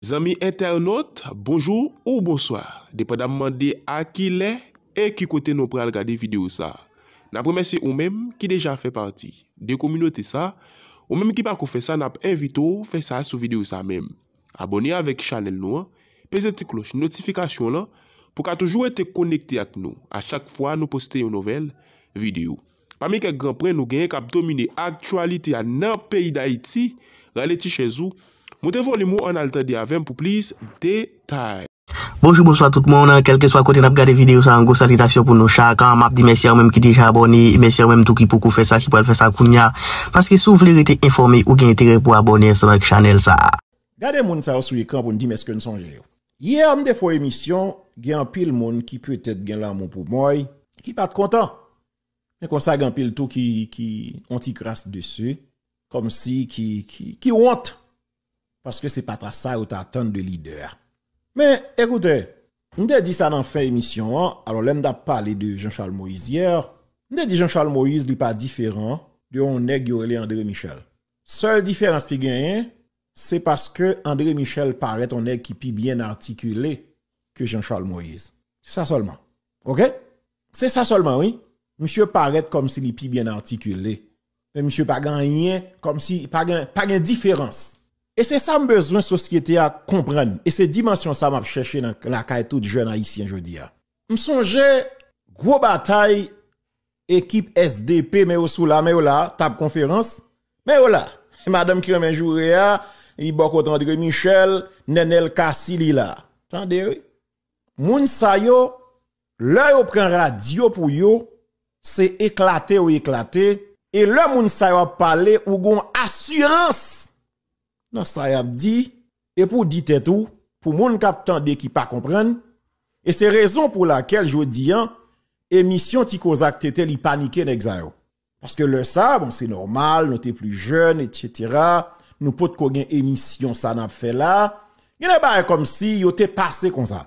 Zanmi entènot, bonjou ou bonswa, depandamman de a ki lè e ki kote nou pral gade videyo sa. N ap remèsye ou menm ki deja fè pati de kominote sa, ou menm ki pako fè sa n ap envite w fè sa sou videyo sa menm. Abòne avèk chanèl nou an, peze ti klòch notifikasyon lan pou ka toujou rete konekte ak nou a chak fwa nou poste yon nouvèl videyo. Pami kèk gran pwen nou genyen k ap domine aktyalite a nan peyi Dayiti, rale ti chèz ou, moute volim ou ann al tande avè m pou plis detay. Bonjou bonswa tout moun, kèlkeswa kote nap gade videyo sa yon gwo salitasyon pou nou chak, map di mèsi a ou menm ki deja abòne, e mèsi a ou menm tou ki poko fè sa ki pral fè sa kounya, paske si w vle rete enfòme ou gen enterè pou abòne ansanm ak chanèl sa. Gade moun sa yo sou ekran pou n di m èske n sonje yo. Hier m te fon emisyon gen anpil moun ki petet gen lanmou pou moy ki pat kontan men konsa gen anpil tou ki ki on ti kras desu komsi ki ki ki wont paske se pa ta sa yo ta atann de lidè a men ekoute m te di sa nan fen emisyon an alò lè m tap pale de Jean Charles Moïse hier m te di Jean Charles Moïse li pa diferan de on nèg yo rele André Michel sèl diferans ki genyen Se paske André Michel parèt on nèg ki pi byen atikile ke Jean Charles Moïse. Se sa sèlman. Ok? Se sa sèlman wi. Misye parèt kòm si li pi byen atikile. Men misye pa gen anyen kòm si pa gen pa gen diferans. E se sa m bezwen sosyete a konprann. E se dimansyon sa m ap chèche nan lakay tout jèn ayisyen jodi a. M sonje gwo batay ekip sdp men yo sou la men yo la tab konferans men yo la madanm ki renmen joure a li bò kot Andre Michel Nenel Cassy li la tande wi moun sa yo lè yo pran radyo pou yo se eklate yo eklate e lè moun sa yo ap pale ou gon asirans nan sa yap di e pou di tèt ou pou moun kap tande ki pa konprann e se rezon pou lakel jodi an emisyon ti koza ak TT li panike nèg sa yo paske lè sa bon se nòmal nou te pli jèn etc nou potko gen emisyon sa nap fè la gen de bagay kòmsi yo te pase konsa.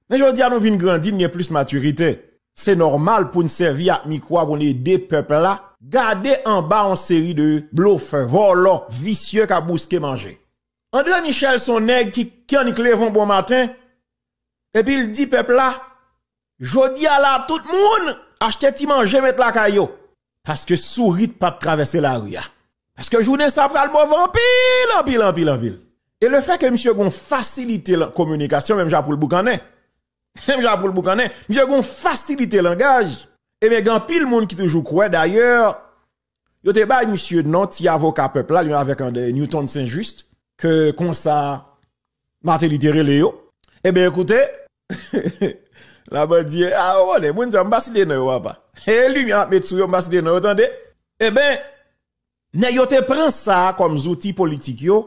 Men jodi a nou vin grandi, n gen plis matirite. Se nòmal pou n sèvi ak mikwo a pou n ede pèp la. Gade anba yon seri de blofè, vòlò, visye k ap bouske manje. Andre Michel se yon nèg ki k annik leve yon bon maten epi l di pèp la, Jodi a la a tout moun achte ti manje met lakay yo. Paske sourit pap travèse lari a. Paske jounen sa pral move anpil, anpil, anpil, anpil. E le fè ke misye gon fasilite lan kominikasyon menm jan pou l boukannen, menm jan pou l boukannen, misye gon fasilite langaj, ebyen gen anpil moun ki toujou kwè, dayè, yo te bay misye non ti avoka pèp la, li menm avèk André Newton Saint Juste, ke konsa Martelly te rele yo. Ebyen, koute. La bandye a ou konnen moun sa mpa site nan yo papa e limye map met sou yo mpa site nan yo tande eben nèg yo te pran sa kòm zouti politik yo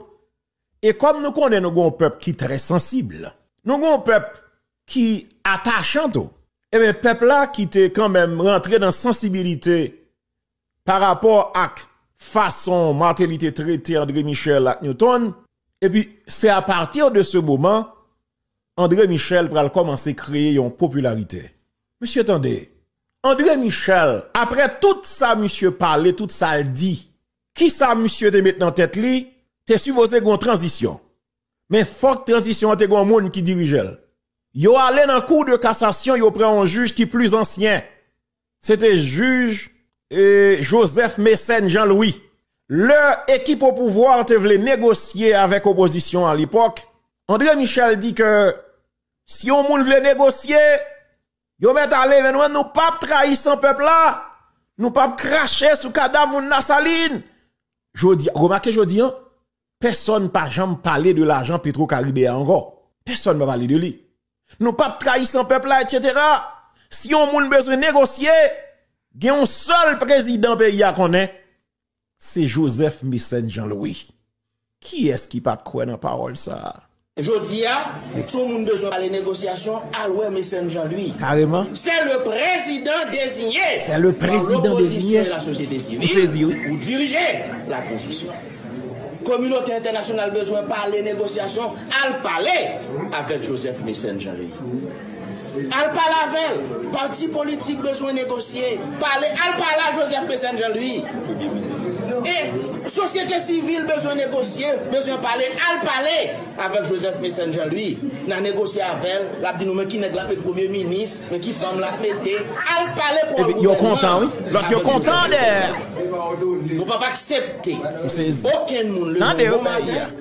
e kòm nou konnen nou gon pèp ki trè sansib nou gon pèp ki atachan tou eben pèp la ki te kanmenm rantre nan sansibilite pa rapò ak fason Martelly te trete André Michel ak Newton, epi se a pati de se moman André Michel pral kòmanse kreye yon popilarite. Mesye tande, André Michel, aprè tout sa misye pale, tout sa l di, ki sa misye te met nan tèt li, te sipoze gen yon tranzisyon, men fòk tranzisyon an te gen yon moun ki dirije l. Yo ale nan kou de kasasyon, yo pran yon jij ki plis ansyen, Se te jij Joseph Mécène Jean Louis. Lè ekip opouvwa te vle negosye avèk opozisyon alepòk, André Michel di ke si yon moun vle negosye, yo mèt ale men nou menm nou pap trayi san pèp la, nou pap krache sou kadav moun Lasalin. Remake jodi an, Pèsòn pa janm pale de lajan petro karibe a ankò. Pèsòn pa pale de li. Nou pap trayi san pèp la etc. Si yon moun bezwen negosye, gen yon sèl prezidan peyi a konnen, se Joseph Mécène Jean Louis. Kiyès ki pat kwè nan pawòl sa a? Jodia si yon moun bezwen pale negosyasyon al wè Mecène Jean Louis. Kareman. Sè le prezidan dezinye pa lopozisyon e lasosyete sivil pou dirije latranzisyon. Kominote entènasyonal bezwen pale negosyasyon al pale avèk Joseph Mecène Jean Louis. Al pale avèl, pati politik bezwen negosye, pale al pale a Joseph Mécène Jean Louis e sosyete sivil bezwen negosye, bezwen pale al pale avèk Joseph Mécène Jean Louis na negosye avèl lap di nou men ki nèg lap met premye minis men ki fanm lap mete al pale pou al gouvènman avèk Joseph Mécène Jean Louis nou pap aksepte okenn moun leve yon bon maten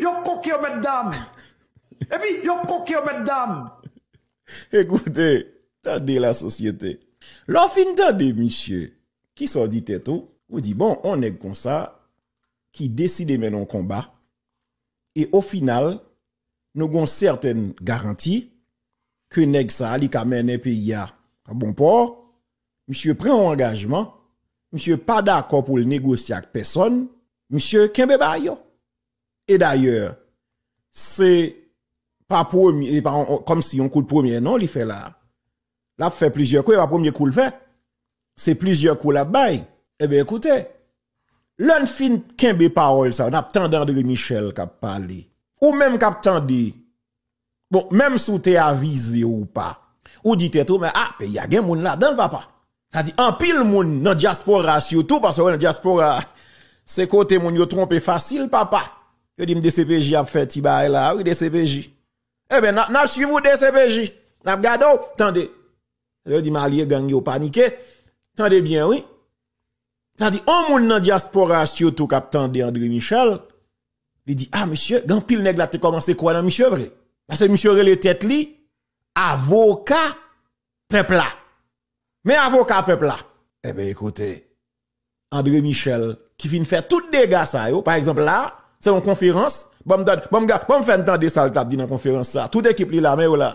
Yo koken yo mètdam. Epi yo koken yo mètdam. Ekoute, tande la sosyete. Lè w fin tande misye, kisa w di tèt ou? Ou di bon, yon nèg konsa ki deside mennen yon konba e o final nou gen yon sètèn garanti ke nèg sa li ka mennen peyi a a bon pò, Misye pran yon angajman, misye pa dakò pou l negosye ak pèsòn, misye kenbe ba yo. E dayè, se pa premye, se pa kòm si yon kout premye non li fè la. L ap fè plizyè kou, e pa premye kou l fè. Se plizyè kou l ap bay. E ben ekoute, lè n fin kenbe pawòl sa yo, n ap tande André Michel k ap pale. Ou menm k ap tande Bon, menm si w te avize ou pa, ou di tèt ou men a, peyi a gen moun ladan l papa. Sa di anpil moun nan dyaspora sitou, paske wè nan dyaspora se kote moun yo twonpe fasil papa. Yo di m dcpj ap fè ti bagay la a wi dcpj. Eben n ap swiv ou dcpj, n ap gade w, tande. Yo di m alye gang yo panike, tande byen wi. Sa di on moun nan diaspora a surtout kap tande André Michel, li di ah mesye gen anpil nèg la te kòmanse kwè nan misye vre. Pase misye rele tèt li avoka pèp la. Men avoka pèp la. Eben ekoute, André Michel ki fin fè tout dega sa yo, pa egzanp la, se yon konferans, banm tande, banm fè n tande sa l tap di nan konferans sa, tout ekip li la men yo la.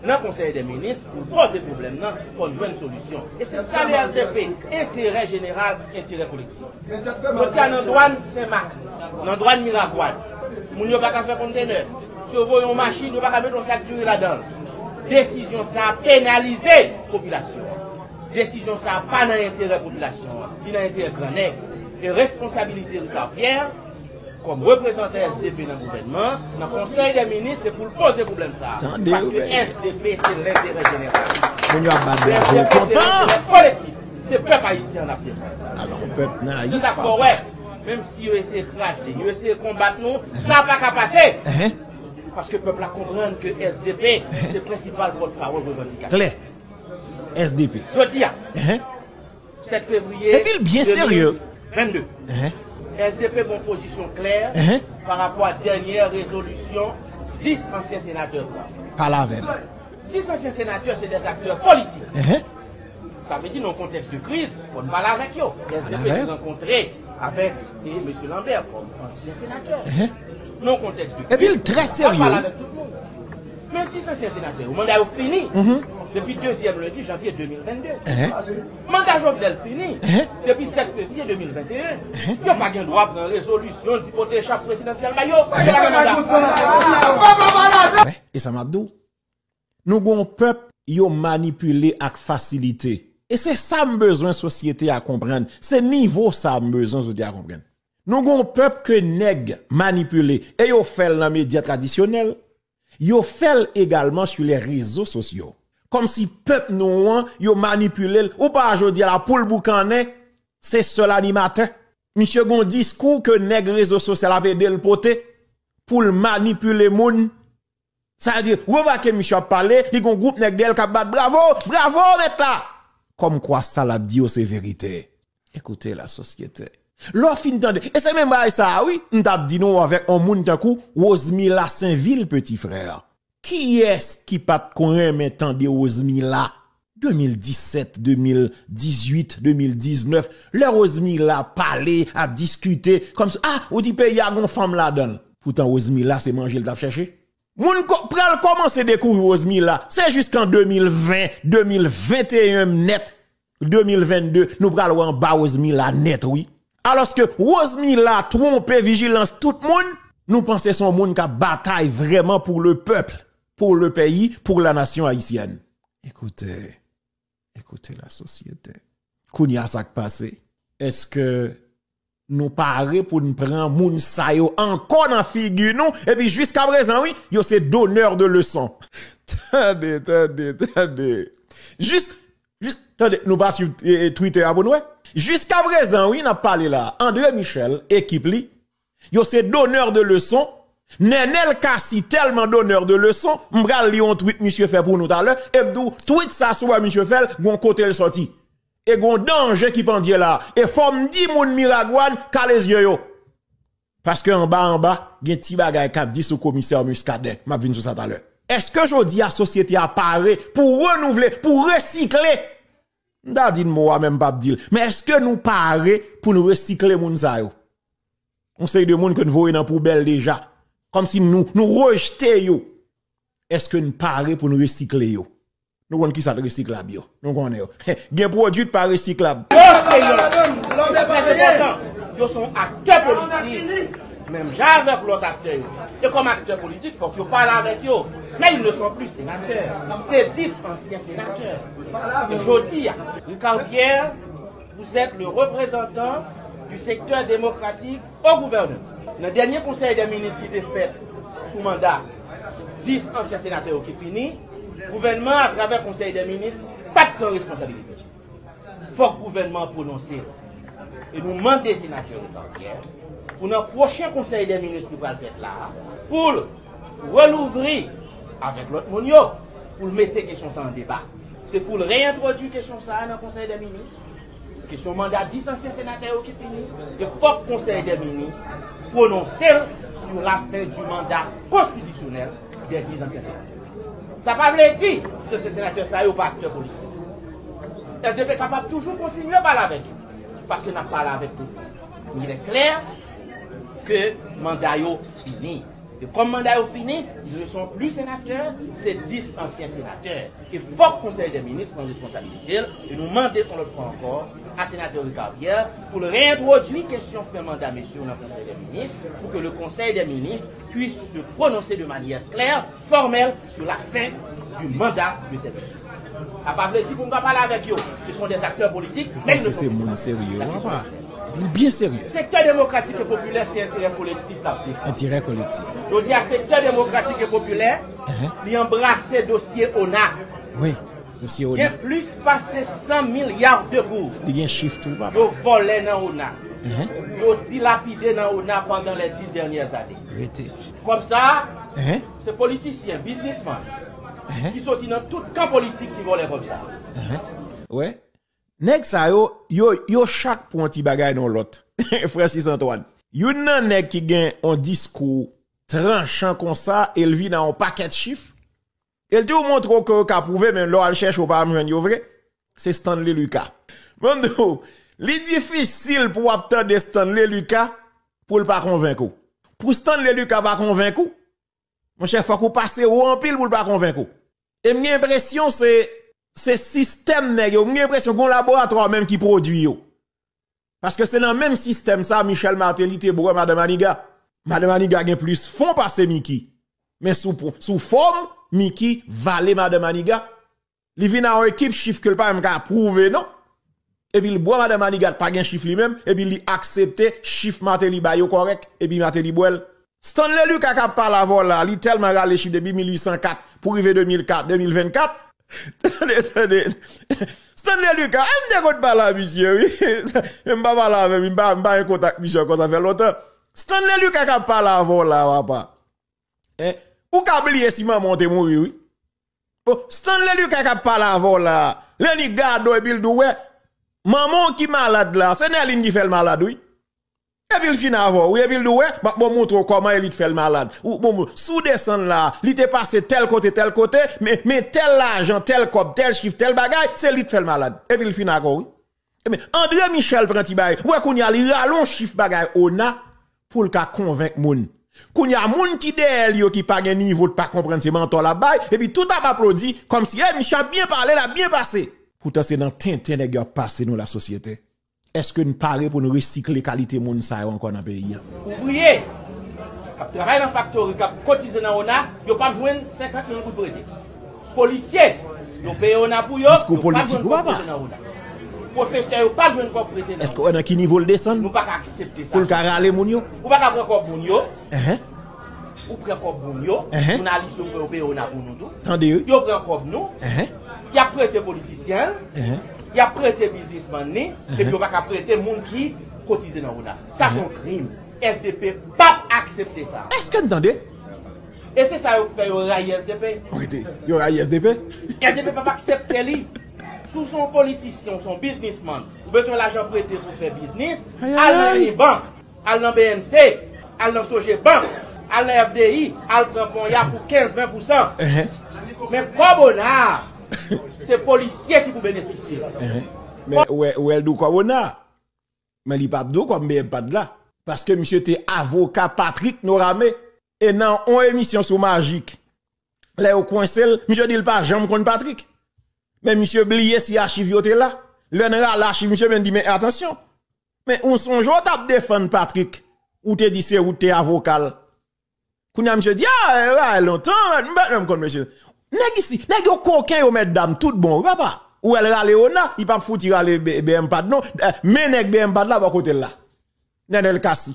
Nan konsèy dè minis pou l pòze pwoblèm nan fò n jwenn solisyon e se sa le HDP enterè jeneral enterè kolektif jodi a nan dwàn sen mak nan dwàn miragwàn moun yo paka fè kontenè si yo voye yon machin yo paka mete yon sak diri ladan l desizyon sa penalize popilasyon an desizyon sa pa nan enterè popilasyon an li nan enterè gran nèg e responsabilite Ricard Pierre Kòm reprezantan sdp nan gouvènman an, nan konsèy dè minis se pou l poze pwoblèm sa a. Paske sdp se lenterè jeneral. Sdp se lenterè kolektif. Se pèp ayisyen an n ap defann. Se sa k fè w wè, menm si yo eseye kraze n, yo eseye konbat nou, sa pa ka pase! Paske pèp la konprann ke sdp se prensipal pòtpawòl revandikatif. Klè! Sdp. Jodi a. 7 fevriye 2022, SDP gen yon pozisyon klè pa rapò a dènyè rezolisyon 10 ansyen senatè pran. 10 ansyen senatè se de aktè politik. Sa vle di nan yon kontèks de kriz, fò n pale avèk yo. SDP te rankontre avèk Mesye Lambert kòm ansyen senatè. Nan yon kontèks de kriz, fò n pale avèk tout moun. Men dis ansyen senatè yo manda yo fini depi dezyèm lendi janvye 2022. Manda Jovenel fini depi 7 fevriye 2021. Yo pa gen dwa pran rezolisyon di pote chap prezidansyèl ba yo. Yo pa gen manda sa. Wè, e sa m ap di w? Nou gen yon pèp yo manipile ak fasilite. E se sa m bezwen sosyete a konprann. Se nivo sa a m bezwen sosyete a konprann. Nou gen yon pèp ke nèg manipile e yo fè l nan medya tradisyonèl, Yo fèl egalman su lè rezo sosyo. Kòm si pèp nou an yo manipilel ou pa jodi a la poul boukannen se sèl animatè. Misye gon diskou ke nèg rezo sosyal ap edel pote poul manipile moun. Sa vle di remake misye ap pale li gon gwoup nèg dèyèl kap bat bravo! Bravo mèt la! Kòm kwa sa lap di yo se verite. Ekoute la sosyete. Lè w fin tande, e se menm bagay sa a wi m t ap di nou avèk yon moun tankou Rosemila Senvil peti frè a. Kiyès ki pa t konn renmen tande Rosemila 2017, 2018, 2019 lè Rosemila ap pale, ap diskite kòmsi a ou di peyi a gen yon fanm ladan l. Poutan Rosemila se manje l t ap chèche. Moun pral komanse dekouvri Rosemila se jiskan 2020, 2021 m nèt, 2022 nou pral wè anba Rosemila nèt wi. Aloske Rosemila twonpe vijilans tout moun, nou panse son moun kap batay vreman pou le pèp, pou le peyi, pou la nasyon ayisyèn. Ekoute. Écoutez la société. Kounye a sa k pase? Eske nou pare pou n pran moun sa yo ankò nan figi nou? Epi jiska prezan wi, yo se donneur de leçon. Tande, tande, tande. Jis, jis, tande, nou pa swiv Twitter a pou n wè? Jiska prezan wi n ap pale la a, André Michel, ekip li, Yo se donneur de leçon, Nenel Cassy tèlman donneur de leçon, m pral li yon tweet misye fè pou nou talè e m di w tweet sa si w wè misye fè l gon kote l sòti. E gon danje ki pandye la. E fò m di moun Miragwàn kale zye yo. Paske anba anba gen ti bagay k ap di sou komisè Muscadin. M ap vin sou sa talè. Eske jodi a sosyete a pare pou renouvle, pou resikle? M ta di n mo a men m pap di l. Men eske nou pare pou n resikle moun sa yo? Yon seri de moun ke n voye nan poubèl deja. Kòm si nou nou rejte yo. Eske n pare pou n resikle yo? Nou konn kisa k resiklab yo. Nou konnen yo. Gen pwodui k pa resiklab. Monseyè, se trè enpòtan, yo se yon aktè politik. Menm jan avèk lòt aktè yo, e kòm aktè politik fòk yo pale avèk yo, men ils ne sont plus sénateurs, se 10 ansyen senatè ke jodi a. Ricard Pierre, vous êtes le représentant du secteur démocratique au gouvernement. Nan dènye konsèy dè minis ki te fèt sou manda 10 ansyen senatè yo ki fini, gouvènman a atravè konsèy dè minis pat pran responsabilite l. Fòk gouvènman an pwononse l. E nou mande senatè Otanvyè pou nan pwochen konsèy dè minis ki pral fèt la a, pou l relouvri avèk lòt moun yo, pou l mete kesyon sa an deba. Se pou l reyentwodui kesyon sa a nan konsèy dè minis. Kesyon manda 10 ansyen senatè yo ki fini, e fòk konsèy dè minis pwononse l sou lafen di manda konstitisyonèl. Dè 10 ansyen senatè. Sa pa vle di si ansyen senatè sa yo pa aktè politik. Sdp kapab toujou kontinye pale avèk yo. Paske n ap pale avèk tout moun. Men il est clair ke manda yo fini. E kòm manda yo fini, ils ne sont plus sénateurs, se 10 ansyen senatè. E fòk konsèy dè minis pran responsabilite l. E nou mande yon lòt fwa ankò a senatè Ricard Pierre pou l reyentwodui kesyon fen manda mesye yo nan konsèy dè minis pou ke le konsèy dè minis puisse se prononse de manyè klè, fòmèl sou la fen di manda de sèvis. Sa pa vle di pou m pa pale avèk yo, se son dè aktè politik men n se moun serye yo apa, li byen serye. Sektè demokratik e popilè se enterè kolektif l ap defann. Enterè kolektif. Jodi a sektè demokratik e popilè li anbrase dosye ona. Wi. Msye Ona. Gen plis pase 100 milliards de gourdes. Li gen chif tou papa. Yo vòlè nan Ona. Yo dilapide nan Ona pandan les 10 dernières années. Rete. Kòb sa a, se politisyen, biznisman, ki soti nan tout kan politik ki vòlè kòb sa a. Ou wè? Nèg sa yo, yo chak pou yon ti bagay nan yon lòt. Francis Antoine. Youn nan nèg ki gen yon diskou tranchan konsa e li vin a yon pakèt chif. E l diw montre w ke yo ka pwouve men lè w al chèche w pa janm jwenn yo vre. Se Stanley Lucas. Mwen di w, li difisil pou w ap tande Stanley Lucas pou l pa konvenk ou. Pou Stanley Lucas pa konvenk ou, monchè fòk ou pase wo anpil pou l pa konvenk ou. E m gen enpresyon se sistèm nèg yo, m gen enpresyon gen yon laboratwa menm ki pwodwi yo. Paske se nan menm sistèm sa Michel Martelly te bwè Madan Maniga. Madan Maniga gen plis fon pase Micky. Men sou fòm, Micky vale Madan Maniga. Li vin a yon ekip chif ke l pa menm ka pwouve non. Epi l bwè Madan Maniga, l pa gen chif li menm, epi li aksepte chif Martelly bay yo kòrèk, epi Martelly bwè l. Stanley Lucas kap pale avè w la li telman rale chif depi 1804 pou rive 2004, 2024. Tande tande Stanley Lucas em te konn pale a misye wi men mpa pale avè m mpa mpa gen kontak misye ankò sa fè lontan Stanley Lucas kap pale avè w la papa hein ou ka bliye si manman w te mouri wi bon Stanley Lucas kap pale avè w la lè li gade w epi l di w wè manman w ki malad la se Nerline ki fè l malad wi. Epi l fin avè w wi epi l di w wè m ap montre w kòman elit fè l malad si w desann la li te pase tèl kote tèl kote men tèl lajan tèl kòb tèl chif tèl bagay se elit fè l malad epi l fin avè w wi ebyen Andre Michel pran ti bagay wè kounye a li rale yon chif bagay ona pou l ka konvenk moun kounye a moun ki dèyè l yo ki pa gen nivo ki pa konprann se mantò l ap bay epi tout ap aplodi kòmsi misye ap byen pale l ap byen pase poutan se nan tenten nèg yo ap pase nou lasosyete. Eske n pare pou n resikle kalite moun sa yo ankò nan peyi a? Ouvriye k ap travay nan faktori, k ap kotize nan ona, yo p ap jwenn 50 mil goud premye. Polisye, yo peye ona pou yo, yo p ap jwenn kòb prete nan ona. Pwofesè yo p ap jwenn kòb prete nan ona. Nou pa ka aksepte sa, sa se sa. Ou pa ka pran kòb moun yo. Ou pran kob moun yo, jounalis yo yo peye ona pou nou tou. Tande wi. Yo pran kob nou. Yap prete politisyen l. Yap prete biznisman li. Epi yo paka prete moun ki kotize nan ona. Sa son krim. Sdp pap aksepte sa. Eske n tande? E se sa yo fè yo rayi sdp. Rete. Yo rayi sdp. Sdp pap aksepte li. Si w son politisyen, w son biznisman, w bezwen lajan prete pou fè biznis, al nan inibank. Al nan bnc, al nan Sogeban, al nan FDI, al pran ponya pou 15, 20 pousan. Men kòb ona a, se polisye ki pou benefisye l. Men ou wè l dou kòb ona a. Men li pa dou kòb BMPAD la. Paske misye te avoka Patrick Norame. E nan yon emisyon sou Majik, lè yo kwense l, misye di l pa janm konn Patrick. Men misye bliye si achiv yo te la. Lè n rale achiv misye, men n di men atansyon. Men ou sonje ou tap defann Patrick, ou te di se ou ki te avoka l. Kounya misye di a e bagay lontan, m pa janm konn mesye. Nèg isi, nèg yo koken yo mètdam tout bon wi papa. Ou wè l rale ona, li pap fouti rale BMPAD non, men nèg BMPAD la bò kote l la. Nenel Cassy.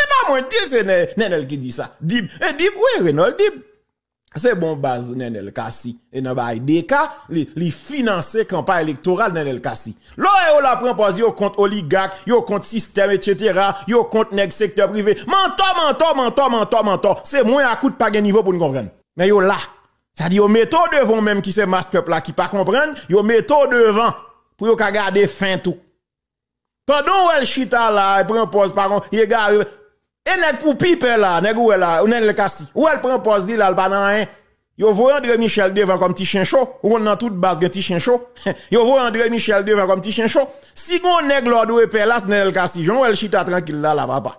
Se pa mwen dil se nenel ki di sa dib e dib wi renol dib se bon baz nenel kasi e nan bay deka li finanse kanpa elektoral nenel kasi lo e yo la pran pòz yo kont oligak yo kont sistèm etc yo kont nèg sektè prive mantò mantò mantò mantò mantò se mwen akout pa gen nivo pou n konprann men yo la sa di yo mete w devan w menm ki se mas pèp la ki pa konprann yo mete w devan pou yo ka gade fent ou. Pandan w wè l chita la e pran pòz pa konn, egare l. E nèg pou pi pè la, nèg ou wè la, Nenel Cassy. Ou wè l pran pòz li la, l pa nan anyen. Yo voye André Michel devan kòm ti chen cho. Ou konn nan tout baz gen ti chen cho. Yo voye André Michel devan kòm ti chen cho. Si gon nèg lè w dwe pè la, se Nenel Cassy. Jan w wè l chita trankil la la papa.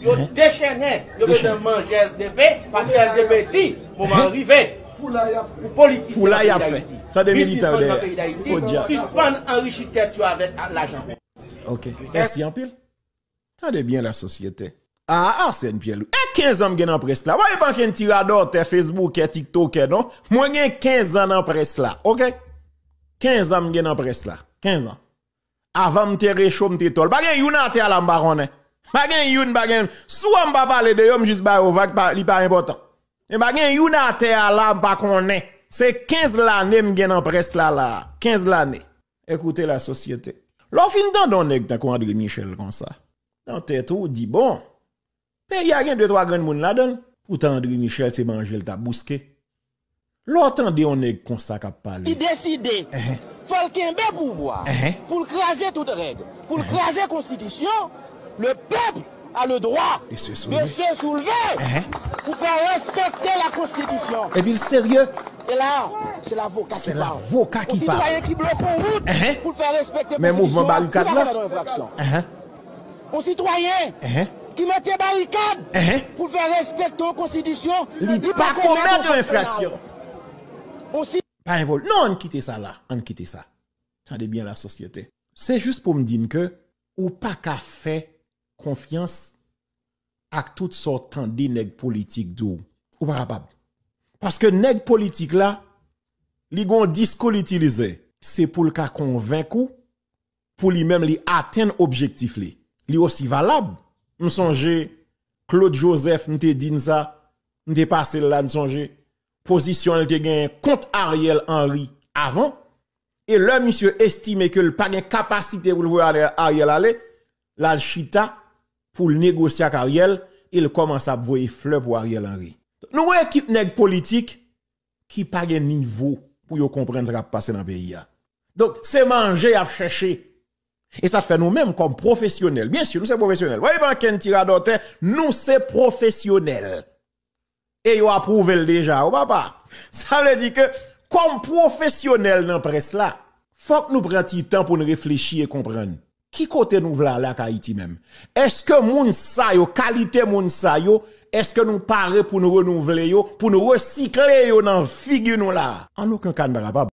Yo dechennen, yo bezwen manje sdp, paske sdp di, moman an rive pou politisyen nan peyi dayiti, biznisman nan peyi dayiti, sispann anrichi tèt yo avèk lajan pèp. Ok, mèsi anpil. Tande byen la sosyete. Aa Arsène Pierre Louis, e 15 an m gen nan près la, mwen pa ken ti radòtè, fesboukè, tiktokè non, mwen gen 15 an nan près la, ok. 15 an m gen nan près la, 15 an. Avan m te recho m te tòl. Pa gen youn atè a la m pa konnen. Pa gen youn, pa gen youn. Sou an m pa pale de yo, m jis ba yo vag, li pa enpòtan. Men pa gen youn atè a la m pa konnen. Se 15 lane m gen nan près la la a. 15 lane. Écoutez la société. Lè w fin tande yon nèg tankou André Michel konsa, nan tèt ou, ou di bon, Peyi a gen de twa grenn moun ladan l. Poutan André Michel se manje l ta bouske. Lè w tande yon nèg konsa k ap pale. Li deside, fò l kenbe pouvwa, pou l kraze tout règ, pou l kraze konstitisyon, le peuple a le droit de se soulever pou fè respekte la konstitisyon. Epi l serye. E la, se lavoka ki pale. Yon sitwayen ki bloke yon wout pou l fè respekte konstitisyon an, li pa komèt yon enfraksyon. Yon sitwayen ki mete barikad pou fè respekte yon konstitisyon li pa komèt yon enfraksyon. Non ann kite sa la, ann kite sa. Tande byen la sosyete. Se jis pou m di n ke ou pa ka fè konfyans ak tout sa w tande nèg politik di w. Ou pa kapab. Paske nèg politik la, li gen yon diskou li itilize. Se pou l ka konvenk ou. pou li menm li atenn objektif li. Li osi valab. M sonje Claude Joseph m te di n sa, m te pase l la n sonje, pozisyon l te genyen kont Ariel Henry avan, e lè misye estime ke l pa gen kapasite pou l voye Ariel ale, l al chita pou l negosye ak Ariel e l kòmanse ap voye flè pou Ariel Henry. Nou gen ekip nèg politik ki pa gen nivo pou yo konprann sa k ap pase nan peyi a. Donk, se manje y ap chèche. E sa fè nou menm kòm pwofesyonèl, byen si nou se pwofesyonèl, pa gen okenn ti radòtè, nou se pwofesyonèl. E yo apwouve l deja o papa. Sa vle di ke kòm pwofesyonèl nan près la, fòk nou pran ti tan pou nou reflechi e konprann. Ki kote nou vle ale ak Ayiti menm? Eske moun sa yo, kalite moun sa yo, eske nou pare pou n renouvle yo, pou n resikle yo nan figi nou la a? An oken ka n pa kapab.